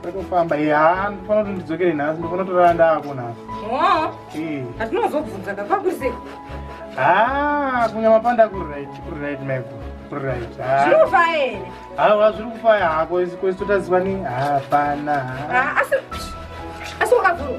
Ndakufamba iye haa ndofana kuti ndidzokere nhasi ndofana kutorara ndaako nhasi. Hoo. Hatinozobvunza ka kwakuzi. Haa kunyama panda kuri right kuri right meko kuri right. Zviri kufaya here? Hawa zviri kufaya hako isi kwesi totaziva ni hapana. Asi asi wakavhurwa.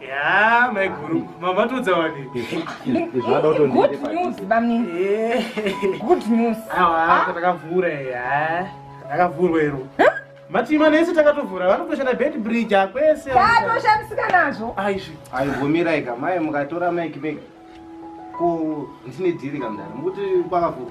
Yeah, my guru. Mama to Zawadi. Good news, Bami. Good news. Awa, takavura ya. Takavura ero. Matima nese takatovura vanotoshanda bed bridge akwese. Tatoshandisika nazvo. Aishi. Aivumira ika mai mukatora mic bag. Ko ndine dhiri kamdara. Mukuti kwakavura.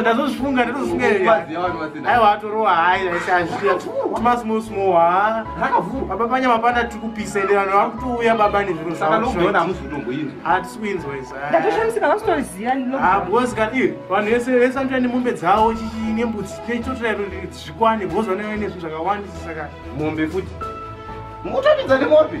ndazozvifunga ndazozvifungaaiwa atorowa hai aisazviamasmosmobaba panyama pana tiri kupisa enderano vari kutouya baba nezviro zvaoatiswinzwaisabcosikaniir vanhu vese vese vanotoya nemombe dzavo chichii nembudzi neitotoya zvikwane bcause vanoya nezvinhu zvakawandisa saka mombe futi mukutambidza nemombe